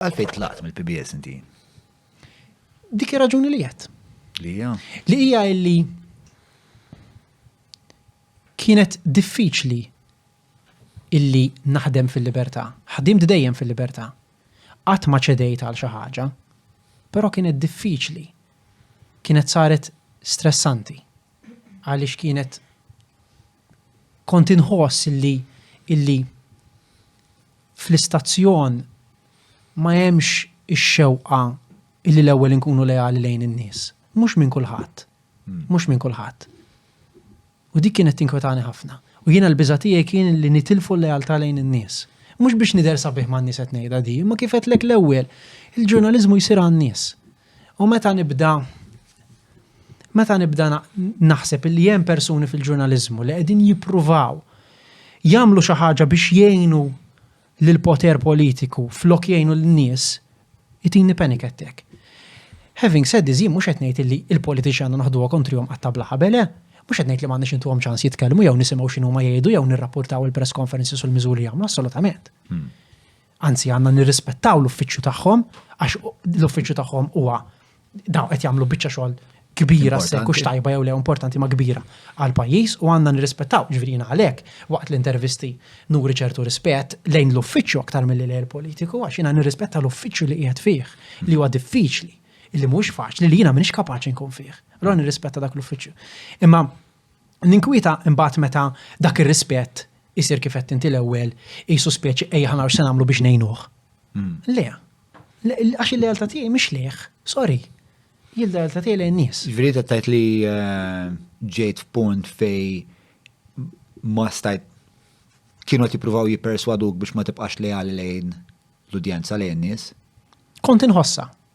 Għalfejn tlaqt mill-PBS inti? Dik ir-raġuni li qed. Li hija? Li hija illi kienet diffiċli illi naħdem fil-libertà. Ħdimt dejjem fil-libertà. Qatt ma ċedejt għal xi ħaġa, però kienet diffiċli. Kienet saret stressanti għaliex kienet kont inħoss illi illi fl-istazzjon ma hemmx ix-xewqa illi l-ewwel inkunu leali lejn in-nies. Mhux minn kulħadd. Mhux minn kulħadd. U dik kienet tinkwetani ħafna. U jiena l-biża' tiegħi kien li nitilfu l-lealtà lejn in-nies. Mhux biex nidher sabiħ man-nies qed ngħidha di, imma kif għedtlek l-ewwel, il-ġurnaliżmu jsir għan-nies. U meta nibda meta nibda naħseb li hemm persuni fil-ġurnaliżmu li qegħdin jippruvaw jagħmlu xi ħaġa biex jgħinu lil poter politiku flok jgħinu lin-nies, itini panic attack. Having said this, mhux qed ngħid li l-politiċi għandna naħduha kontrihom qatta bla ħabele, eh? mhux qed ngħid li m'għandniex intuhom ċans jitkellmu jew nisimgħu x'inhu ma jgħidu jew nirrapportaw il-press conferences u l-miżuri jagħmlu assolutament. Hmm. Anzi għandna nirrispettaw l-uffiċċju tagħhom għax l-uffiċċju tagħhom huwa dawn qed jagħmlu biċċa xogħol kbira se kux tajba jew le importanti ma kbira għal pajjiż u għandna nirrispettaw ġvirina għalhekk waqt l-intervisti nuri ċertu rispett lejn l-uffiċċju aktar mill lejn politiku għax jiena nirrispetta l-uffiċċju li qiegħed fih li huwa diffiċli li mhux faċli li jiena m'iniex kapaċi nkun fih. Allora nirrispetta dak l-uffiċċju. Imma Ninkwieta imbagħad meta dak ir-rispett isir kif għedt inti l-ewwel, qisu speċi ejja ħa naraw x'se nagħmlu biex ngħinuh. Le. Għax il-lealtà tiegħi mhix lejh, sorry. Hi l-lealtà tiegħi lejn nies. Ġifieri qed tgħid li eh, ġejt f'punt fej ma stajt kienu qed jippruvaw jipperswaduk biex ma tibqax leali lejn l-udjenza lejn nies. Kont inħossa.